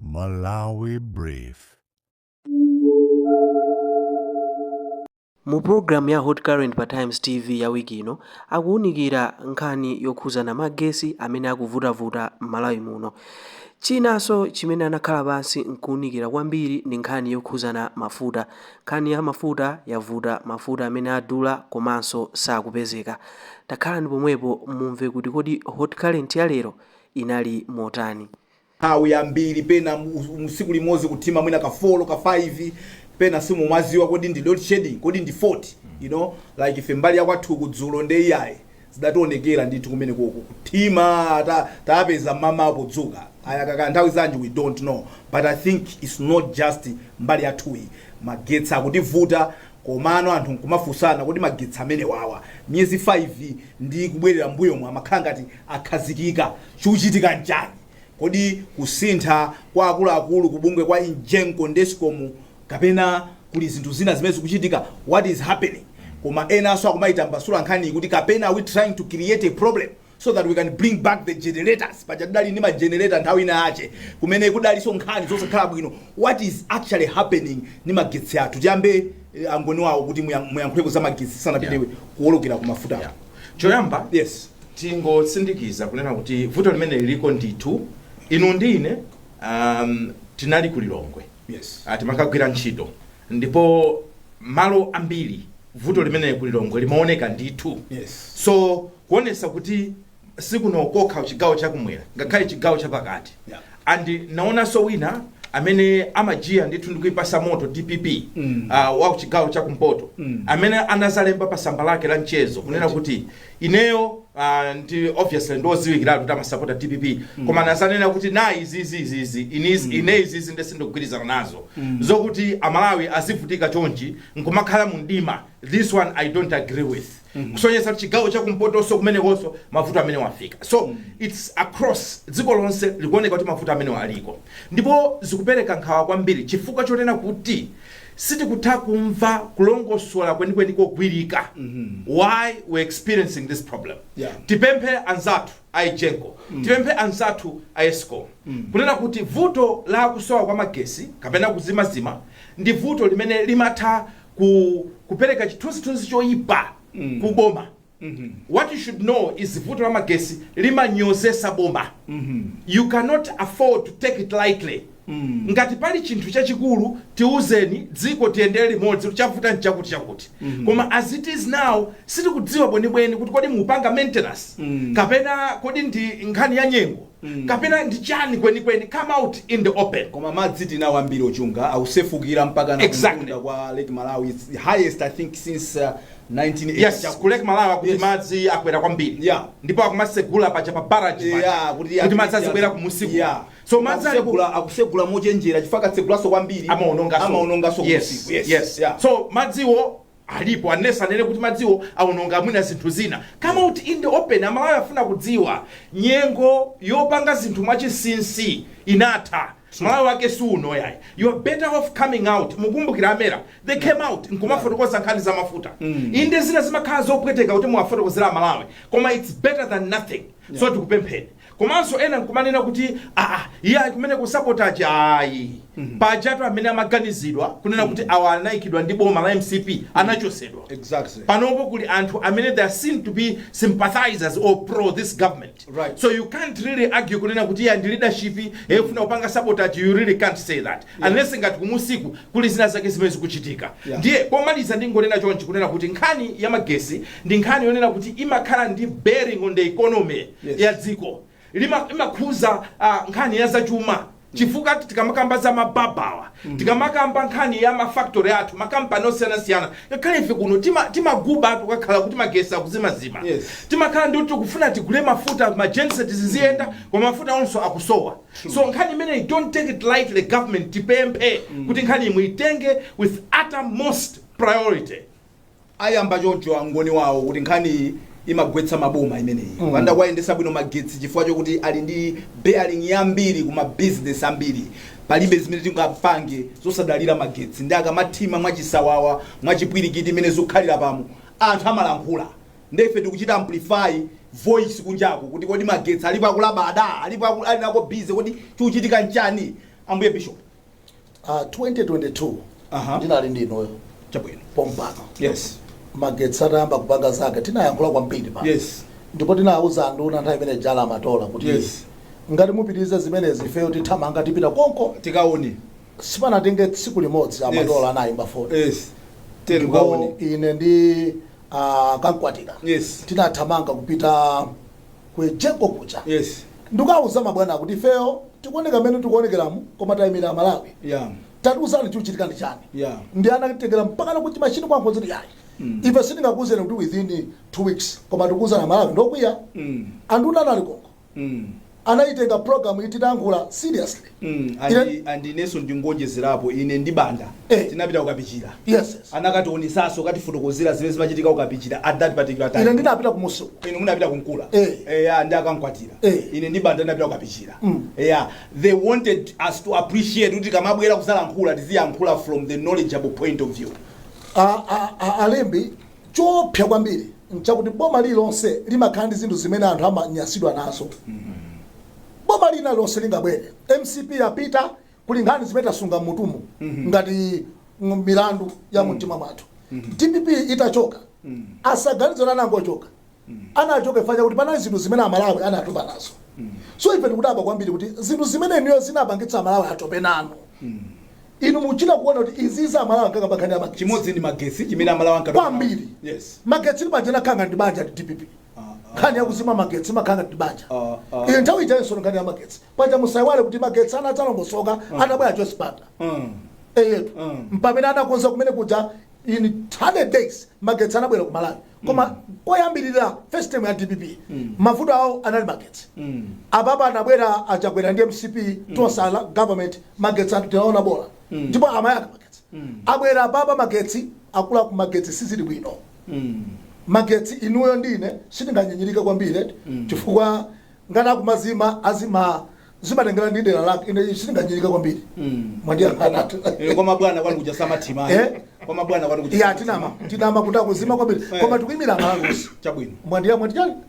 Malawi Brief. Mu program ya Hot Current pa Times TV ya wiki ino akuwunikira nkhani yokhuzana magesi amene akuvutavuta m'Malawi muno. Chinanso chimene anakhala pansi nkuwunikira kwambiri ndi nkhani yokhuzana mafuta. Nkhani ya mafuta yavuta mafuta amene adula komanso sakupezeka. Takhalani pomwepo mumve kuti kodi Hot Current ya lero inali motani. nthawi yambiri pena mu tsiku limodzi kuthima mwina ka 4 ka 5 pena sumaziwa kodi ndi load shedding kodi ndi fault you know like ife mbali yakwathuku dzulo nde iyayi zidationekera ndithu kumene koko kuthima ta, tapeza mmawa podzuka ayaka kaya nthawi zanji we don't know but i think it's not just mbali yathuyi magetsi akutivuta Komano anthu nkumafunsana, kodi magetsi amenewawa miyezi 5 ndi kubwerera m'mbuyomu amakhala ngati akhazikika, chikuchitika nchani? Kodi kusintha kwa akuluakulu ku bungwe kwa Egenco ndi Escom kapena kuli zinthu zina zimene zikuchitika? What is happening? Koma enanso akumaitambasula nkhaniyi kuti kapena are we trying to create a problem? so that we can bring back the generators paja tidali ndi magenerator nthawi ina yache kumene kudalinso nkhani zosakhala bwino what is actually happening ndi magetsi athu tiyambe eh, angoni wawa kuti muya- muyankhuleko za magetsi tisanapite Yeah. kuwolokera ku mafuta Yeah. choyamba yes tingotsindikiza kunena kuti vuto limeneli liliko ndithu inu ndi ine um, tinali ku lilongwe yes Ah, timakagwira ntchito ndipo malo ambiri vuto limeneli ku lilongwe limaoneka ndithu yes so kuonesa kuti sikuno kokha chigawo chakumwera ngakhale chigawo chapakati Yeah. and ndaonanso wina amene amajiya ndithu ndikuipasa moto dpp Mm. uh, wa chigawo chakumpoto Mm. amene anazalemba pa samba lake la mchezo kunena kuti ineyo uh, ndi obviously ndioziwikiratu kuti amasapota dpp koma anazanena kuti ayi izizizizi ine izizi nde sindikugwirizana nazo zokuti amalawi azivutika chonchi nkumakhala mu mdima this one i don't agree with kusonyeza kuti chigawo chakumpotonso kumenekonso mavuto amenewa afika so its across dziko lonse likuoneka kuti mavuto amenewa aliko ndipo zikupereka nkhawa kwambiri chifukwa chonena kuti sitikutha kumva kulongosola kwenikweni kogwirika why we're experiencing this problem Yeah. tipemphe anzathu a Egenco tipemphe anzathu a Escom kunena kuti vuto la kusowa kwa magesi kapena kuzimazima ndi vuto limene limatha ku kupereka chithunzithunzi choyipa mm. ku boma mm -hmm. what you should know is vuto la magesi limanyozesa boma mm -hmm. you cannot afford to take it lightly Mm. ngati pali chinthu chachikulu tiuzeni dziko tiyendere limodzi chavuta nchakuti chakuti mm -hmm. koma as it is now sitikudziwa bwenibweni kuti kodi mukupanga maintenance mm. kapena kodi ndi nkhani ya nyengo kapena ndi chani kwenikweni come out in the open koma madzi tinawo ambiri ochuluka akusefukira mpaka na Exactly. kumtunda kwa lake malawi its the highest i think since uh, 1980 yes chakuti. ku lake malawi akuti madzi akwera kwambiri Yeah. ndipo akumasegula paja pa baraji paja. Yeah, kuti madzi azibwera kumusiku Yeah. so madzi ali ku- Akusegula- akusegula mochenjera chifukwa akatsegulaso kwambiri amaonongaso amaonongaso yes, kumusiku. yes. Yeah. so madziwo alipo unless anene kuti madziwo awononga mwina zinthu zina come out in the open amalawi afuna kudziwa nyengo yopanga zinthu mwachinsinsi inatha malawi wake si uno yayi you are better off coming out mukumbukira amera they came out n'kumafotokoza nkhani za mafuta inde zina zimakhala zopweteka kuti muwafotokozera amalawi koma it's better than nothing so tikupempheni komanso ena nkumanena kuti aa iyayi kumeneko ndi sabotage ayi pajatu amene amaganizidwa kunena kuti awa anayikidwa ndi boma la mcp anachosedwa Exactly. panopo kuli anthu amene they are seen to be sympathizers or pro this government Right. so you can't really argue kunena kuti ya ndi leadership ikufuna kupanga sabotage you really can't say that unless ngati kumusiku kuli zina zake zimene zikuchitika Yeah. ndiye pomaliza ndingonena chonchi kunena kuti nkhani ya magesi ndi nkhani yonena kuti imakhala ndi bearing on the economy Yes. ya dziko Lima- imakhuza ah, nkhani ya zachuma chifukwa tikamakamba za ma barber awa tikamakamba nkhani ya mafactory athu makampani osiyanasiyana ngakhale ife kuno tima- timaguba tima tukakhala kuti magesi akuzimazima Yes. timakhala ndi kuti tikufuna tigule mafuta magenset ziziyenda koma mafuta onso akusowa so nkhani imeneyi don't take it lightly government tipemphe kuti nkhani inuyo muitenge with uttermost priority ayamba choncho angoni wawo kuti nkhaniyi imagwetsa maboma imeneyi mm. akapanda kuwayendetsa bwino magetsi chifukwa chokuti ali ndi bearing yambiri kuma business ambiri palibe zimene tingapange zosadalira magetsi nde akamathima mwachisawawa mwachipwirikiti mmene zikukhalira pano anthu amalankhula nde ife tikuchita amplify voice kunjaku kuti kodi magetsi alipo akulabada alipo aku- ali nako busy kodi chikuchitika nchani ambuye bishop Ah, 2022 Aha. ndinali ndi inuyo chabwino pompano yes magetsi atayamba kupanga zake tinayankhula kwambiri pano yes ndipo tinawuza anduna nthawi imene ijayo a matola kuti Yes. ngati mupitirize zimenezi ifeyo tithamanga tipita konko tikaone sipanatenge tsiku limodzi a matola Yes. anayimba foni yes tiyeni mukaone ine ndi ah, kamkwatira yes tinathamanga kupita ku egenco kuja yes nkukawuza mabwana kuti ifeyo tikuoneka mmene tikuonekeramu koma tayimira amalawi yeah tatiuzani chikuchitika ndi chani Yeah. ndiye anatitengera mpakana ku machine kwankho ziti yayi ife sitingakuuzeni kuti within two weeks koma tikuuzani amalawi ngokwiya mm anduna anali konko mm anayitenga program ititankhula seriously Mm, Ine- andi- andinenso ndingonjezerapo ine ndi banda Eh. tinapita kukapichira yes yes. anakationetsanso kutifotokozera zimene zimachitika kukapichira at that particular ine time ndinapita kumusi uko inu munapita kunkula Eh. eya ndi akankwatira Eh. ine ndi banda ndinapita kukapichira Mm. eya they wanted us to appreciate kuti tikamabwera kuzalankhula tiziyankhula from the knowledgeable point of view A- a- a- alembi choopsa kwambiri nchakuti boma lililonse limakhala ndi zinthu zimene anthu amanyasidwa nazo boma lina lililonse lingabwere mcp yapita kuli nkhani zimene tasunga mmutumu ngati ng- milandu ya mumtima mwathu dpp itachoka asaganize kuti anangochoka anachoka chifukwa choti panali zinthu zimene amalawi anatopa nazo so ife tikudabwa kwambiri kuti zinthu zimene inuyo zinapangitsa amalawi atope nanu inu muchita kuona kuti izizi amalawi ankakamba nkhani ya magetsi chimodzi ndi magetsi chimene amalawi ankatopa nawo. kwambiri yes magetsi ndi banja amakhala ndi banja ndi dpp nkhani yakuzima magetsi imakhala ndi banja iyo nthawi ijayinso nkhani ya magetsi paja musaiwale kuti magetsi anadzalongosoka atabwera joyce banda eyetu mpamene anakonza kumene kuja in 100 days magetsi anabwera ku malawi koma koyambirira first time ya dpp mavuto awo anali magetsi apapa anabwera achakwera ndi mcp tonse alliance government magetsi anthu tinaona bola ndipo amayaka magetsi abwera apapa magetsi akula ku magetsi sizili bwino magetsi inuyo ndi ine sitinganyinyirike kwambiri eti chifukwa ngati akumazima azima zimatengera ndi dera lake ine sitinganyinyirike kwambiri mwandiyang'anatu Eh, kwa mabwana kwanu kuja samathima Eh? kwa mabwana kwanu kuja ya tinama tinama kuti akuzima kwambiri koma tikuimira amalawi chabwino mwandiya mwandiyani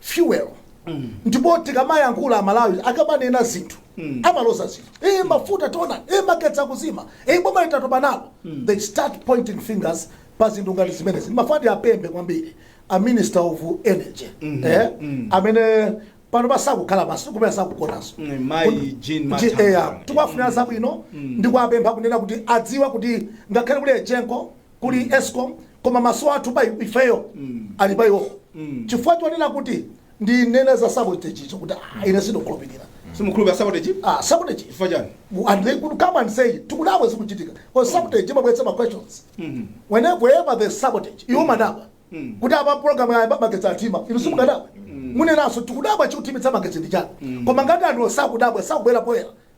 fuel ndipo tikamayankhula amalawi akamanena zinthu amaloza zinthu e mafuta tiona e magetsi akuzima e boma litatopa nalo they start pointing fingers pa zinthu ngati zimenezi ndikufuna ndiapemphe kwambiri a minister of energy eh, amene panopa sakukhala pansi kumene sakugonanso Mm, mayi Jean Mathanga. eya tikuwafunira zabwino ndi kuwapempha kunena kuti adziwe kuti ngakhale kuli egenco kuli escom koma maso athu pa ifeyo ali pa iwowo chifukwa chonena kuti ndinene za sabotage icho kuti ah, ine sindikhulupirira simukhulupirira sabotage ah, sabotage chifukwa chani Well, and they could come and say tikudabwa zikuchitika because sabotage imabweretsa ma questions whenever there's sabotage inu mumadabwa kuti apa program ya magetsi athima inu simukadabwa munenanso tikudabwa chikuthimitsa magetsi ndi chani koma ngati anthu sakudabwa sakubwera poyera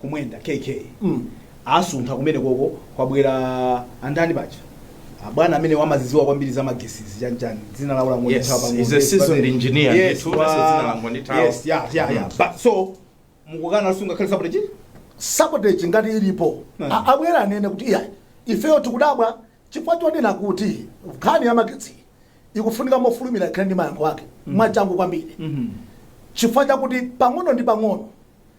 kumwenda kk mm. asuntha kumene koko kwabwera andani paja abwana amene amazidziwa kwambiri za magetsizi chanchani dzina lawo langothawa Yes, he's a seasoned engineer, yes, ndithu, wa- basi dzina langondithawa. yes, yeah, yeah, yeah. Mm. But, so mukukana za nkhani ya sabotage sabotage ngati ilipo Mm. A- abwere anene kuti iya ifeyo tikudabwa chifukwa chonena kuti nkhani ya magetsi ikufunika mofulumira ikhale ndi mayankho ake mwachangu kwambiri chifukwa chakuti pang'ono ndi pang'ono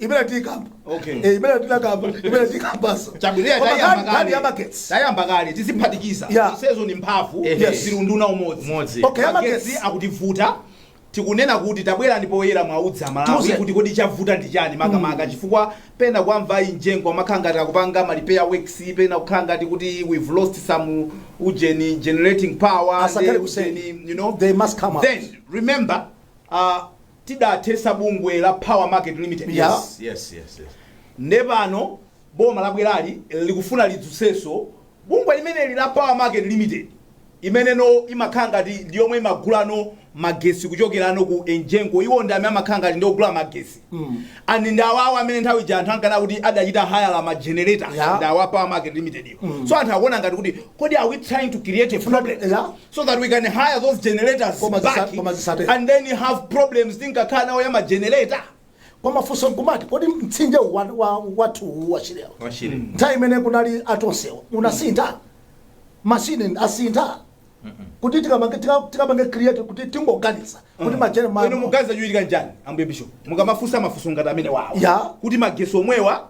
imene tikamba Okay. Eh, imene tinakamba imene tikambaso Chabwino, Koma tayamba nkhani- nkhani kale. ya magetsi Tayamba kale tiziphatikiza. Yeah. Isezo ni mphamvu Ehe. yes. zilunduna umodzi. Umodzi. Okay, ya Magetsi magetsi. akutivuta. Tikunena kuti tabwerani poyera muwauze Amalawi Tiuze. kuti kodi chavuta ndi chani makamaka chifukwa pena kuwamva EGENCO amakhala ngati akupanga ma repair works pena kukhala ngati kuti we've lost some ujeni generating power Asakale ndi kuseni. ujeni, you know They must come out. then remember uh, tidathetsa bungwe la power market limited lija Yes, yes, yes, yes. nde pano boma labwerali likufuna lidzutsenso bungwe limeneli la power market limited imeneno imakhala ngati ndi yomwe imagulano magetsi kuchokerano ku EGENCO iwo ndi amene amakhala ngati ndi ogula magetsi Mm. and ndi awawa amene nthawi ija anthu ankanena kuti adachita hire ma generator Yeah. ndi awa power market limited iwo so anthu akuona ngati kuti kodi are we trying to create a problem Yeah. so that we can hire those generators Koma zisa- back koma zisate. and then have problems tinkakhala nawo ya magenerator koma funso nkumati kodi mtsinje wa- wa- wathu wa Shirewo nthawi imene kunali a Tonsewo unasintha mashini asintha kuti tikapange- tika- tikapange create kuti tingoganiza kuti majene- ma- inu muganiza chochitika nchani ambuye bishop mukamafunsa mafunso ngati amenewawo Ya. kuti magetsi omwewa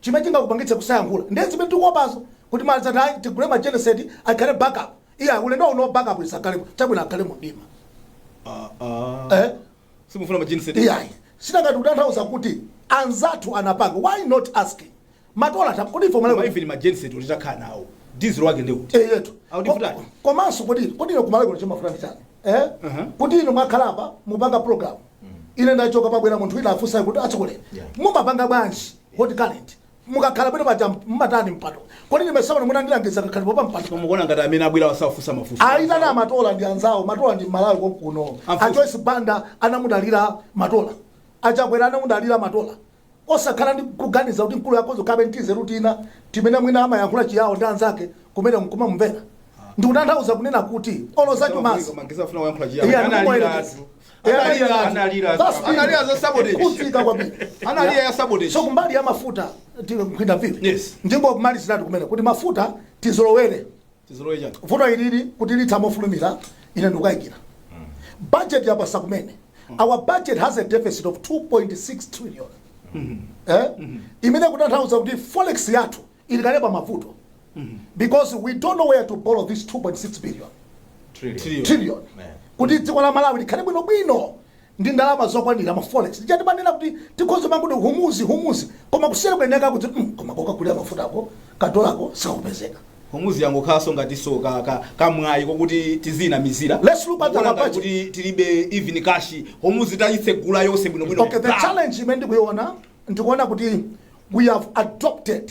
chimene chingakupangitse kusayankhula ndiye zimene tikuopazo kuti mali zati ayi tigule ma genset akhale backup iya ulendo uno wa backup isakhalepo chabwino akhale mu mdima Ah, ah. eh? Simufuna ma genset. iyayi sinangati kutanthauza kuti anzathu anapanga why not asking matola tam kodi ife Koma malawi even ma genset kuti titakhala nawo. Diesel wake ndi kuti. eyetu Audifutani. komanso kodi kodi ino ku Malawi kuno chimavuta ndi chani eh? Uh-huh. kuti inu mwakhalapa mupanga program ine ndachoka pabwera munthu wina afunsayo kuti atsogoleri Yeah. mumapanga bwanji hot current mukakhala pene paja mumatani mpando kodi ndimesamana munandilangiza kakhalipo pa mpandopa mukuona ngati amene abwerawa safunsa mafunso ayitana a Matola ndi anzawo matola ndi Mmalawi konkuno Amfuso. a Joyce Banda anamudalira matola a Chakwera anamudalira matola Osakhala ndi kuganiza kuti mkuluyo akhoza kukhala ndi tinzeru tina timene mwina amayankhula Chiyao ndi anzake kumeneko nkumamumvera. Ndikutanthauza kunena kuti olo zachumazi Iye anamubwera. Iye analira. That's it. Kutsika kwambiri. So kumbali ya mafuta ti- nkhwinda vipi Yes. ndingomaliziratu kumene kuti mafuta tizolowere tizolowe chani vuto ilili kuti litha mofulumira ine ndikukayikira budget yapasa kumene our budget has a deficit of 2.6 trillion eh? imene kutanthauza kuti forex yathu ili kale pa mavuto because we don't know where to borrow this 2.6 billion trillion trillion kuti dziko la malawi likhale bwinobwino ndi ndalama zokwanira ma forex lija timanena kuti tikhoza kumangoti Hormuz Hormuz koma kusiyana kwake nkwakuti mm, koma kokagulira mafutako kadollarko sikakupezeka Hormuz yangokhalanso ngatinso ka, ka, kamwayi kokuti tizinamizira Let's look at our budget. kuti tilibe even cash Hormuz tayitsegula yonse bwinobwino okay the challenge imene ndikuiona ndikuona kuti we have adopted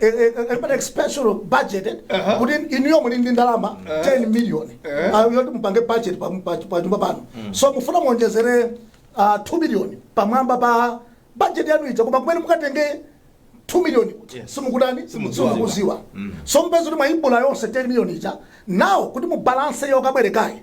eh, eh, eh, pali expansion budget eh, Aha. kuti inuyo muli ndi ndalama 10 million Eh. ah, yoti mupange budget pa- pa- pa nyumba pano so mufuna muonjezere ah, 2 million pamwamba pa budget yanu ija koma kumene mukatenge 2 million kuti Yes. simukudani Simudziwa. simukuziwa so mupeza kuti mwaibula yonse 10 million ija now kuti mubalanse yokabwerekayi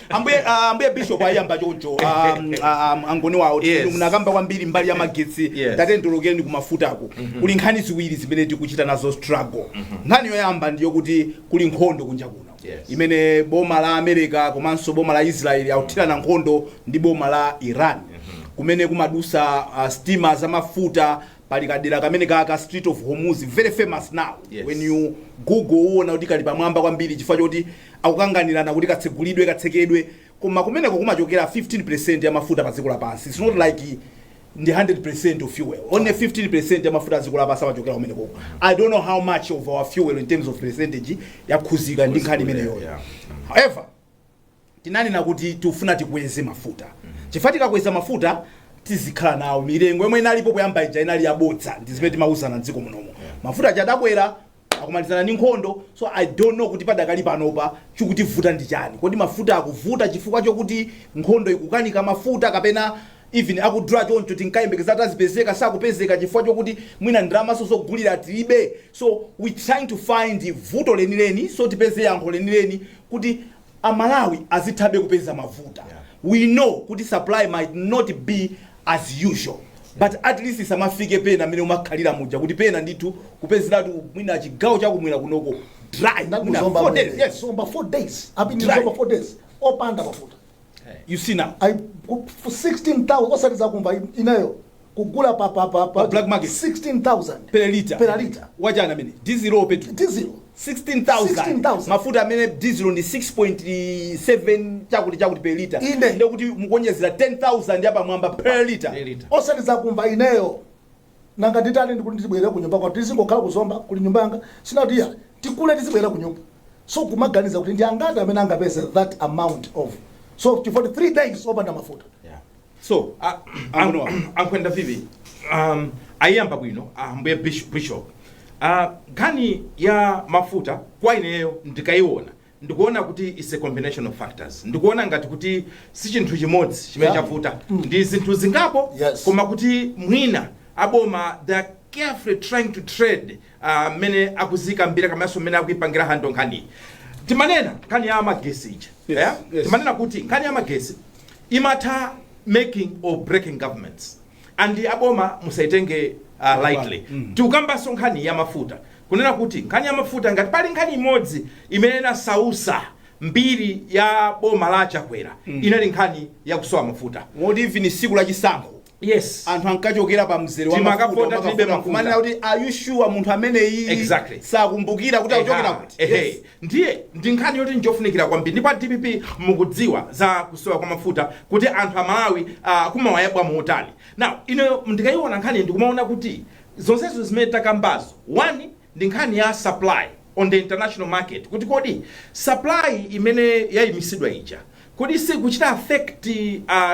Ambuye ah, Ambuye Bishop ayiyamba choncho ah, mm, ah, ah, angoni wawo Yes. munakamba kwambiri mbali ya magetsi Yes. tatembenukeni kumafutako kuli nkhani ziwiri zimene tikuchita nazo struggle nkhani yoyamba ndiyo kuti kuli nkhondo kunja kuno Yes. imene boma la America komanso boma la Israel akuthirana nkhondo ndi boma la Iran kumene kumadusa uh, sitima zamafuta pali kadera kamene ka ka Strait of Hormuz very famous now Yes. when you google uona kuti kali pamwamba kwambiri chifukwa choti akukanganirana kuti katsegulidwe katsekedwe koma kumeneko kumachokera 15% ya mafuta pa dziko lapansi its not like ndi 100% of fuel only 15% ya mafuta a dziko lapansi amachokera kumenekoko i don't know how much of our fuel in terms of percentage yakhuzika ndi nkhani imeneyoyo Yeah. however tinanena kuti tikufuna tikweze mafuta chifukwa tikakweza mafuta tizikhala nawo mizere yomwe inalipo kuyamba ija inali yabodza ndi zimene tinkauzana mdziko munomo mafuta aja adakwera akumalizana ndi nkhondo so i don't know kuti padakali panopa chikutivuta ndi chani kodi mafuta akuvuta chifukwa chokuti nkhondo ikukaniza mafuta kapena even akudula choncho tinkayembekeza kuti azipezeka sakupezeka chifukwa chokuti mwina ndalamaso zogulira tilibe so we trying to find vuto lenileni so tipeze yankho lenileni kuti a Malawi azithabe kupeza mafuta we know kuti supply might not be as usual but at least isamafike pena mene imakhalira muja kuti pena ndithu kupezeratu mwina chigawo chakumwera kunoko dry mwina four days yes zomba 4 days I have been ku Zomba 4 days opanda mafuta you see now I, ku- for 16,000 osati zakumva in- ineyo kugula pa, pa, pa, pa Pa black market. 16,000 per liter Per liter. wachani amene diesel or petrol diesel 16,000 16,000. mafuta amene diesel ndi 6.7 chakuti chakuti per liter Inde. ndekuti mukuonjezera 10,000 yapamwamba per liter osati zakumva ineyo Nanga nditani ndikufuna ndizibwelera kunyumba kwathu tizingokhala ku Zomba kuli nyumba yanga ndinangoti iya tigule tizibwelera kunyumba so kumaganiza kuti ndi angati amene angapeze that amount of so chifukwa ndi 3 days opanda mafuta Yeah. so a- Ambuye wa- a- ankhwenda vipi um, ayiyamba bwino ambuye bish- bishop uh, nkhani ya mafuta kwa ineyo ndikayiona Ndikuona kuti it's a combination of factors. Ndikuona ngati kuti si chinthu chimodzi chimene Yeah. chavuta. Ndi zinthu zingapo Yes. koma kuti mwina aboma they are carefully trying to tread ah, mmene akuzikambira kamanso mmene akuipangira handle nkhaniyi. Timanena nkhani ya magesi ija. Yes, Yeah? yes. Timanena kuti nkhani ya magesi imatha making or breaking governments. and aboma musaitenge uh, lightly tikukambanso nkhani ya mafuta kunena kuti nkhani ya mafuta ngati pali nkhani imodzi imene inasausa mbiri ya boma la a Chakwera inali nkhani ya kusowa mafuta moti even siku la chisankho yes anthu ankachokera pa mzere wa Timakavota mafuta, tilibe umakavota, mafuta. kumanena kuti are you sure munthu ameneyi Exactly. sakumbukira kuti akuchokera Eha, kuti ehe. Yes. Ndiye ndi nkhani yoti njofunikira kwambiri ndipo a DPP mukudziwa za kusowa kwa mafuta kuti anthu a Malawi uh, kumawayabwa motani. Now ine ndikayiona nkhani ndikumaona kuti zonsezo zimene takambazo one ndi nkhani ya supply on the international market kuti kodi supply imene yayimisidwa ija Kodi siikuchita affect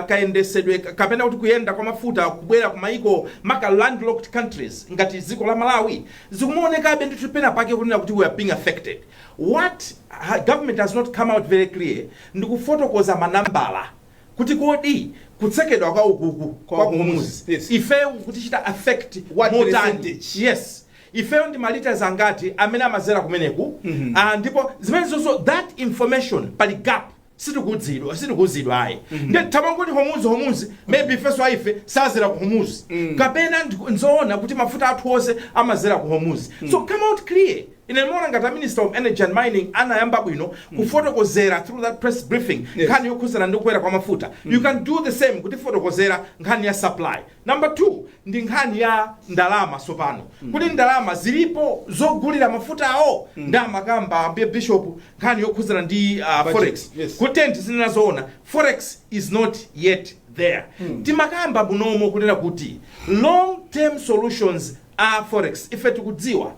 kayendesedwe kapena kuti kuyenda kwa mafuta kubwera ku maiko maka landlocked countries ngati dziko la Malawi? Zikumaonekabe ndithu penapake kunena kuti we are being affected. What ha government has not come out very clear ndi kufotokoza ma nambala kuti kodi kutsekedwa kwa ukuku Kwa, kwa Hormuz, Hormuz yes. ifeyo kukutichita affect What motani? percentage? Yes. ifeyo ndi ma litres angati amene amazera kumeneko Ah, ndipo zimenezozo that information pali gap sitikudzidwa sitikuuzidwa ayi nditamangoti Hormuz Hormuz maybe ifeso a ife sazera ku Hormuz kapena ndi- nzoona kuti mafuta athu onse amazera ku Hormuz so come out clear mmene mwaona ngati a minister of energy and mining anayamba bwino kufotokozera through that press briefing Yes. nkhani yokhuzana ndi kukwera kwa mafuta you can do the same kutifotokozera nkhani ya supply Number 2 ndi nkhani ya ndalama sopano mm. kuti ndalama zilipo zogulira mafutawo mm. nde amakamba ambuye bishop nkhani yokhuzana ndi uh, forex yes. kuti tizinena zoona forex is not yet there mm. timakamba munomo kunena kuti long term solutions a forex ife tikudziwa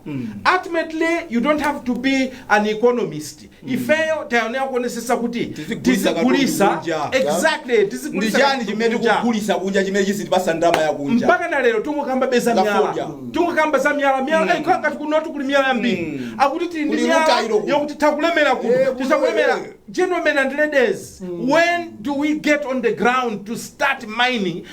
ultimately you don't have to be an economist ifeyo tayenera kuonesesa kuti Tizigulisa katundu tizigulisa kunja. exactly ndi tizigulisa chani katundu chimene kunja. tikugulisa kunja chimene chizitipasa ndalama yakunja mpaka na lero tungokambabe za Za miyala fodya. tungokamba za miyala miyala mm. ngati kunotu kuli miyala yambiri akuti tili ndi Kuli miyala rutile kuno. yokuti takulemera Eh, kuno kuno, tisakulemera eh. gentlemen and ladies when do we get on the ground to start mining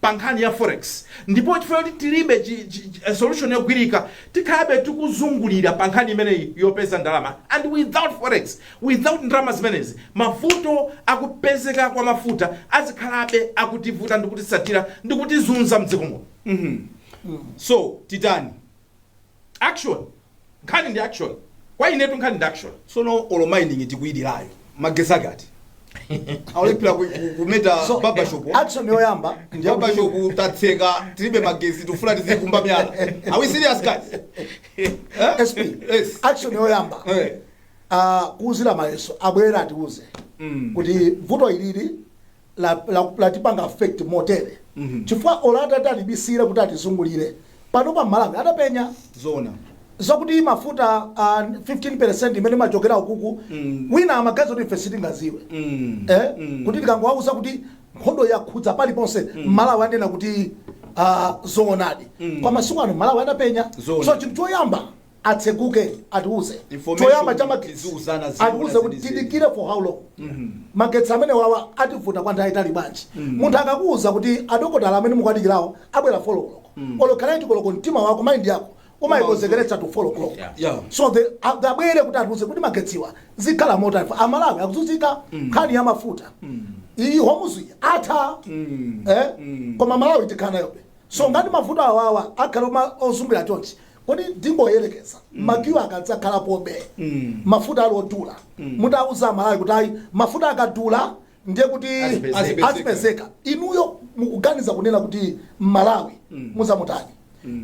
pa nkhani ya forex ndipo chifukwa choti tilibe chi, chi, chi, eh, solution yogwirika tikhalabe tikuzungulira pa nkhani imeneyi yopeza ndalama and without forex without ndalama zimenezi mavuto akupezeka kwa mafuta azikhalabe akutivuta ndikutisatira ndikutizunza mdziko muno so titani Action nkhani ndi action kwa inetu nkhani ndi action. sono olo mining tikuilirayo magesi akati akulephera ku- ku- kumeta So, babashop action yoyamba ndi yakuti- babashop tatseka tilibe magesi tufuna tizikumba myala are we serious guys Eh? SP yes action yoyamba Eh. ah, kuuzira mayeso abwere atiuze kuti vuto ilili la, la, latipanga affect motere chifukwa olo atati atibisire kuti atizungulire pano pa malawi adapenya zona zokuti mafuta ah, 15% imene imachokera ukuku Mm. wina amagazi kuti ife sitingaziwe Mm. eh? Mm. kuti tikangowauza kuti nkhondo yakhudza paliponse mmalawi anena kuti ah, zoonadi Mm. kwa masiku ano mmalawi atapenya Zoona. so chinthu choyamba atseguke atiuze Information choyamba cha ndi magetsi kuziuzana zina atiuze kuti zenizeni. tidikire for how long magetsi amene wawa ativuta kwa nthawi yaitali bwanji munthu akakuuza kuti adokotala amene mukwadikirawo abwera folokoloko olo kanaini koloko mtima wako maindi yako umayikonzekeretsa to folokoloko Yeah. Yeah. so the a- the abwere kuti atiuze kuti magetsiwa zikhala motani amalawi akuzunzika nkhani ya mafuta iyi homuzi atha eh? koma malawi tikhanayobe so ngati mafuta awawa akhala oma- ozungulira chonchi Kodi ndingoyerekeza ma queue akadzakhalapobe mafuta ali odula mutawauza amalawi kuti ayi mafuta akadula ndiye kuti Azipezeka. azipezeka inuyo mukuganiza kunena kuti mmalawi muzamutani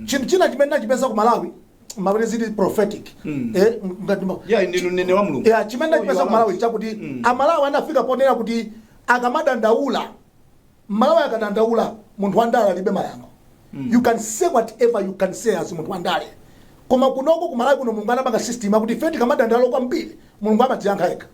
chinthu china chimene ndinachipeza ku malawi mapena zili prophetic eh, ngati ma- Yeah, ndinu mneneri wa Mulungu. Yeah, chimene So ndachipeza you ku are malawi right. chakuti amalawi anafika ponena kuti akamadandaula M'malawi akadandaula munthu wandale alibe mayankho you can say whatever you can say as munthu wandale koma kunoko ku Malawi kuno mulungu anapanga system akuti ife tikamadandaula kwambiri mulungu amatiyankha yekha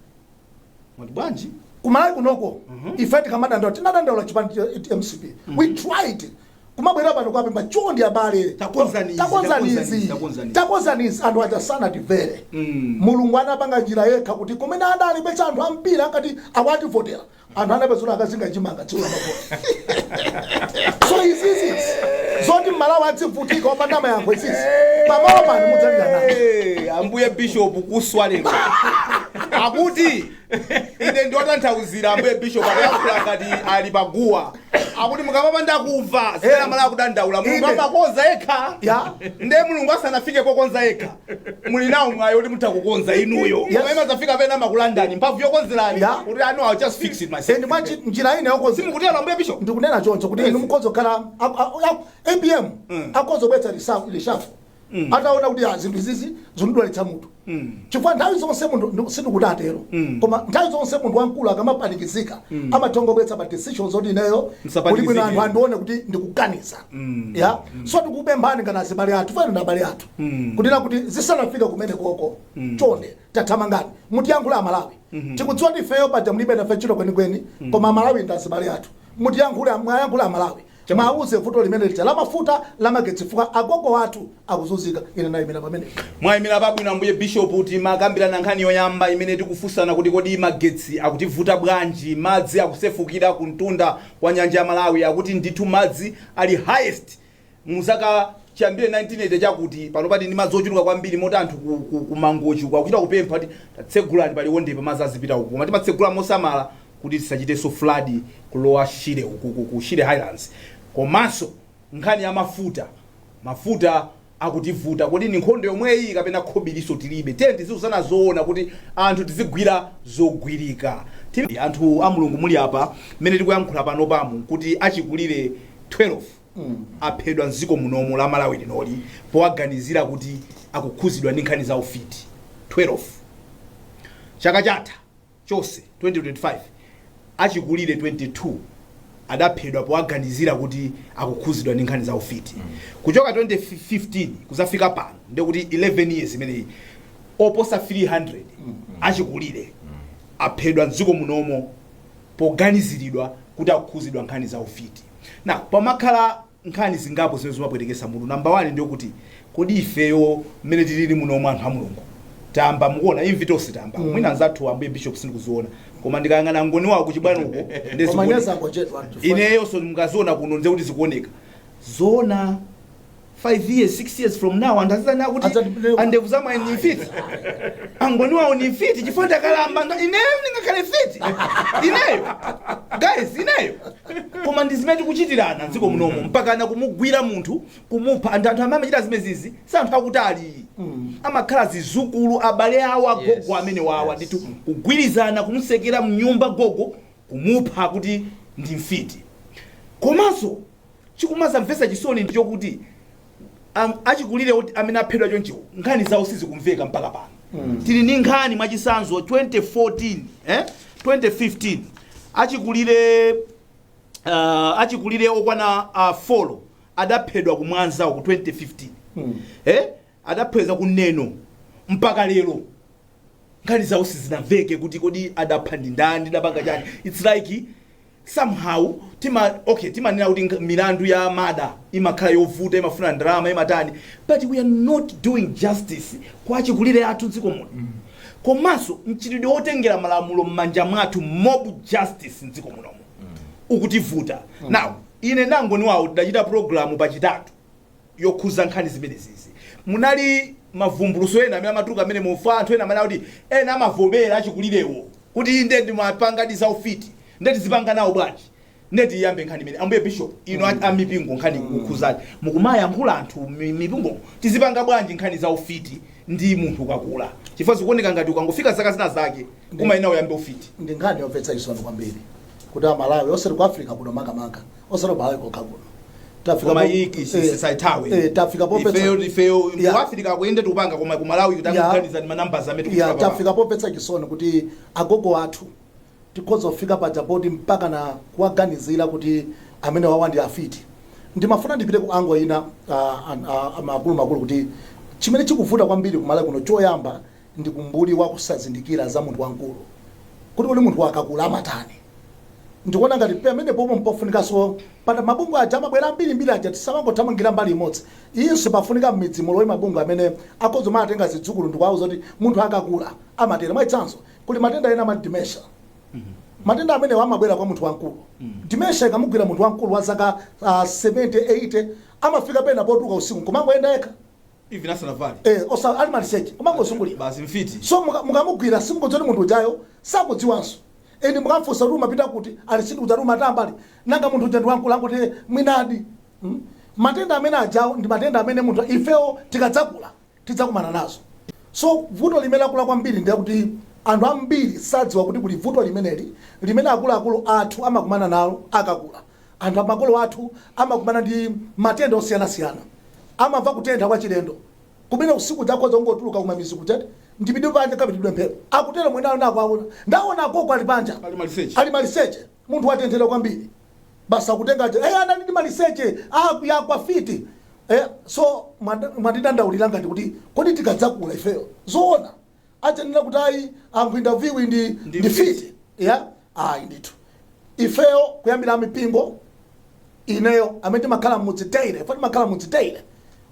Mwati bwanji? ku Malawi kunoko ife tikamadandaula tinadandaula chipani cha mcp we tried kumabwera pano kuwapempha chondi abale Takonzani izi, takonzani takonzani izi, izi takonzani izi. takonzani izi anthu aja sanatimvere Mm. mulungu anapanga njira yekha kuti kumene adali pecha anthu ampira akati atavotera anthu anapezula akazinga chimanga tsiku lamavoti so izizi zoti mmalawi adzivutika opanda mayankho izizi pamalo pano mudzalira nawo Hey, ambuye bishop kuswa lero akuti ine ndiwatanthauzire ambuye bishop akuyankhula ngati ali paguwa akuti mukamapanda kumva zimene Eh. amalawi akudandaula mulungu Inde. amakonza yekha Ya. nde mulungu asanafike pokonza yekha muli nawo mwayi kuti mutha kukonza inuyo Yes. koma imazafika pena amakulandani mphamvu yokonzerani Ya. kuti I know I'll just fix it myself ndi mwachinjira ine yokonza simukutero ambuye bishop ndikunena choncho kuti Yes. inu mukhoza kukhala apm Mm. akhoza kubweretsa lishafu mm. ataona kuti ah, zinthu izizi zikundidwalitsa munthu mm. chifukwa nthawi zonse munthu sindikuti atero mm. koma nthawi zonse munthu wamkulu akamapanikizika mm. amathongobwetsa pa decision zoti ineyo kuti bwino anthu andione kuti ndikuganiza mm. ya mm. so tikupemphani ngati azibale athu fine ndi abale athu mm. kunena kuti zisanafika kumene koko mm. chonde tathamangani mutiyankhula amalawi mm -hmm. tikudziwa kuti ifeyo paja mulibe nafe ntchito kwenikweni mm. koma amalawi ndi azibale athu mutiyankhula mwayankhula amalawi Mwauze vuto limene lija lamafuta lamagetsi chifukwa agogo athu akuzunzika ine ndaimira pamenepo. Mwaimira pabwino Ambuye Bishop timakambirana nkhani yoyamba imene tikufunsana kuti kodi magetsi akutivuta bwanji madzi akusefukira kumtunda kwa nyanja ya Malawi akuti ndithu madzi ali highest muzaka chiyambire 1980 chakuti panopa tili ndi madzi ochuluka kwambiri moti anthu ku, ku, ku Mangochi uku akuchita kupempha kuti tatsegulani pa Liwondepa madzi azipita uku koma timatsegula mosamala kuti tisachitenso flood ku Lower Shire ukuku ku shire highlands komanso nkhani ya mafuta mafuta akutivuta kodi ndi nkhondo yomweyi kapena khobilinso tilibe tiyeni tiziuzana zoona kuti anthu tizigwira zogwirika Tim anthu a mulungu muli apa mmene tikuyankhula panopamu nkuti achikulire 12 aphedwa mdziko munomu la malawi linoli powaganizira kuti akukhudzidwa ndi nkhani za ufiti 12 chaka chatha Chonse, 2025 Achikulire 22 adaphedwa powaganizira kuti akukhudzidwa ndi nkhani za ufiti. Kuchoka 2015 kudzafika pano ndiye kuti 11 years imeneyi, oposa 300 achikulire aphedwa m'dziko munomo poganiziridwa kuti akukhudzidwa nkhani za ufiti. Now, pamakhala nkhani zingapo zimene zimapwetekesa mutu number 1 ndiyokuti kodi ifeyo mmene tilili munomu anthu a Mulungu tamba mukuona imvi tonse tayamba mm. mwina anzathu ambuye bishop sindikuziona koma ndikayang'ana ngoni wawo kuchibwano uko nde koma zikuoneka. nyasa ngochedwa anthu ineyo so mukaziona kuno ndiye kuti zikuoneka zona 5 years 6 years from now anthu azidzanena kuti Adzati- andevu za mwayi ni mfiti angoni wawo ni mfiti chifukwa ndakalamba nga- ineyo ndingakhale mfiti ineyo guys ineyo koma ndi zimene tikuchitirana dziko munomu mpakana kumugwira munthu kumupha anthu anthu amene amachita zimenezizi si anthu akutali amakhala zizukulu abale awo agogo Yes, amene wawa yes. ndithu kugwirizana kumutsekera mnyumba gogo kumupha kuti ndi mfiti komanso chikumadzamvetsa chisoni ndi chokuti am- achikulire oti- amene aphedwa chonchiwo nkhani zawo sizikumveka mpaka pano tili ndi nkhani mwachitsanzo 2014 eh? 2015 achikulire uh, achikulire okwana uh, four adaphedwa ku mwanza ku 2015 eh? adaphedwa ku neno mpaka lero nkhani zawo sizinamveke kuti kodi adapha ndi ndani ndapanga chani its like somehow timanena kuti nk- milandu ya mada imakhala yovuta imafuna ndalama imatani but we are not doing justice kwa achikulire athu dziko muno komanso mchitidwe wotengera malamulo m'manja mwathu mob justice mdziko munomo ukutivuta now ine ndangoni wawo tidachita programu pachitatu yokhuza nkhani zimenezizi munali mavumbuluso ena amene amatuluka amene mufa anthu ena amene kuti ena amavomera achikulirewo kuti inde ndimapangadi za ufiti nde tizipanga nawo bwanji nde tiyambe nkhani imene ambuye bishop ino mm. amipingo nkhani kukhuzaji mukumayankhula anthu mi- mipingo tizipanga bwanji nkhani za ufiti ndi munthu ukakula chifukwa zikuoneka ngati ukangofika zaka zina zake kumeneko uyambe ufiti ndi nkhani yomvetsa chisoni kwambiri kuti amalawi osati ku africa kuno makamaka osati malawi kokha kuno tafika mu africa kuyenda tupanga koma ku malawi Yeah. tikuganiza ndi manumbers amene ya tikufika tafika pomvetsa chisoni kuti agogo athu tikhoza kufika paja poti mpaka na kuwaganizira kuti amenewawa ndi afiti ndimafuna ndipite ku ango ina ah, an- ah, makulumakulu kuti chimene chikuvuta kwambiri kumalawi kuno choyamba ndi umbuli wa kusazindikira za munthu wamkulu kuti kodi munthu akakula amatani. Ndikuona ngati pamenepopo mpofunikanso pa mabungwe aja amabwera ambirimbiri aja tisamangothamangira mbali imodzi. Iyinso pafunika m'midzi mulowe mabungwe amene akhoza kumatenga zidzukulu ndikuwauza kuti munthu akakula amatero. Mwachitsanzo, kuli matenda ena amati dementia. Matenda amenewa amabwera kwa munthu wamkulu. Dementia ikamugwira munthu wamkulu wa zaka ah, 70, 80 amafika pena potuluka usiku nkumangoyenda yekha. even asanavale eh osa ali maliseche kumangozungulira basi mfiti so muka- mukamugwira simukudziwa kuti munthu ujayo sakudziwanso even mukamfunsa kuti umapita kuti ali sindikudziwa ati umatamba ali nanga munthu uja ndi wamkulu akuti mwinadi Mm. matenda amene ajawo ndi matenda amene munthu ifewo tikadzakula tidzakumana nazo so vuto limene lakula kwambiri ndi kuti anthu ambiri sadziwa kuti kuli vuto limeneli limene akuluakulu athu amakumana nalo akakula Anthu makolo athu amakumana ndi matenda osiyanasiyana. Amamva kutentha kwachilendo kumene usiku uja akhoza kungotuluka kumamidzi kuja ati ndipite panja ndikapitidwe mphepo, akutero mwina ana akuwaona. Ndaona agogo ali panja Ali maliseche. ali maliseche, munthu watenthedwa kwambiri, basi akutenga aja, eh, anali maliseche, ah, yagwa mfiti. Eh, so mandi- ndimadandaulira ngati kuti kodi tikadzakula ifeyo zoona adzanena kuti ayi a Nkwinda ndi mfiti. Ndi mfiti ya ayi ndithu ifeyo kuyambira amipingo ineyo amene timakhala mudzi daily ife timakhala mudzi daily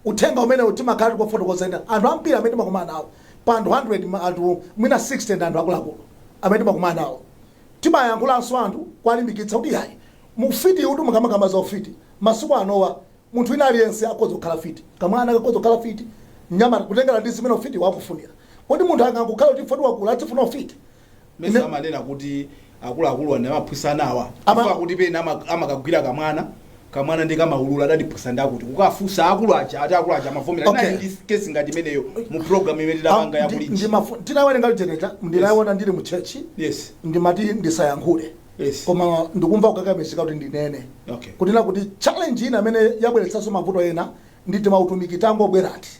uthenga umenewu timakhala tikufotokoza ena anthu ambiri amene timakumana nawo pa anthu 100 ma- anthu mwina 60 ndi anthu akuluakulu amene timakumana nawo timayankhulanso anthu kuwalimbikitsa kuti yayi ufiti uti mukamakamba za ufiti masiku anowa Munthu wina aliyense akhoza kukhala fiti. Kamwana kakhoza kukhala fiti, mnyamata, kutengera ndi zimene ufitiwo akufunira. Kodi munthu angangokhala kuti chifukwa wakula adzifuna ufiti? Mesa Ine. amanena kuti akuluakuluwa ndi amaphunzitsa anawa Ama- chifukwa kuti pena ama- amakagwira kamwana kamwana ndi kamaulula adandiphunzitsa ndakuti kukafunsa akulu aja ati akulu aja amavomera Okay. okay. ndi kesi ngati imeneyo mu program imene tidapanga ya Ndi- Kulinji ndimafu- tinawerenga lijeneta ndinayiona ndili mu church yes ndimati ndisayankhule Yes. koma ndikumva kukakamizika kuti ndinene Okay. kunena kuti challenge ina imene yabweretsanso mavuto ena ndi timautumiki tangobwerati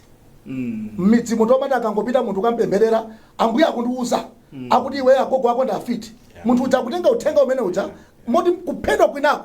Mm. mmidzimu tomati akangopita munthu kampempherera ambuye akundiuza akuti iwe agogo ako ndi afiti munthu uja akutenga uthenga umene uja moti kuphedwa kwinako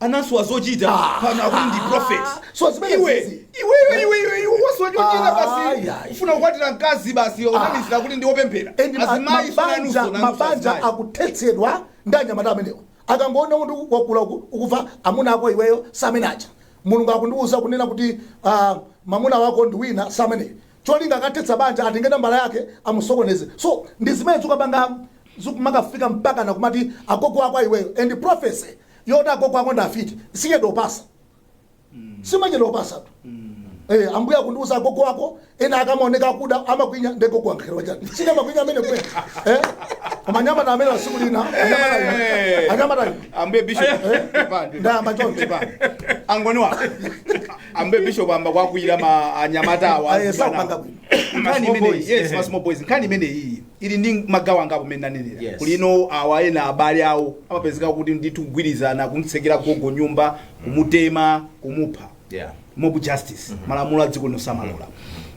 anasowa zochita pano akuti ndi prophet So zimene iwe zizi. iwe iwe iwe iwe iwe wasowa chochita Ah, basi yeah. ufuna kukwatira mkazi basi unamizira kuti ndi opemphera And ma- azimayi mabanja sunanuso mabanja akuthetsedwa ndi anyamata amenewo akangoona kuti wakula uku- ukumva amuna ako iweyo samene aja mulungu akundiwuza kunena kuti ah, mamuna wako ndi wina samene cholinga akathetsa banja atenge nambala yake amusokoneze so ndizimene zikukapangamu zikumakafika mpakana kumati agogo ako aiweyo and prophecy yoti agogo ako ndafiti sichedwa kupasa simachedwa kupasatu Eh, ambuye akundiuza agogo wako ena akamaoneka akuda amakwinya nde gogo angakhale wachani sine amakwinya amene kwe eh? koma anyamata amene wasiku lina anyamata Eh. anyamata ambuye bishop Pepani, ndayamba choncho pepani. angoni wako ambuye bishop ayamba kuwakwiyira ma anyamata awa Aye, azibana. sakupanga bwino. Ma Nkhani small imeneyi. boys, yes, ma small boys nkhani imene iyi ili ndi magawo angapo mmene ndanenera Yes. kulinso awa ena abale awo amapezeka kuti ndithu kugwirizana kumtsekera gogo nyumba kumutema kumupha Yeah. mob justice malamulo a dziko lino samalola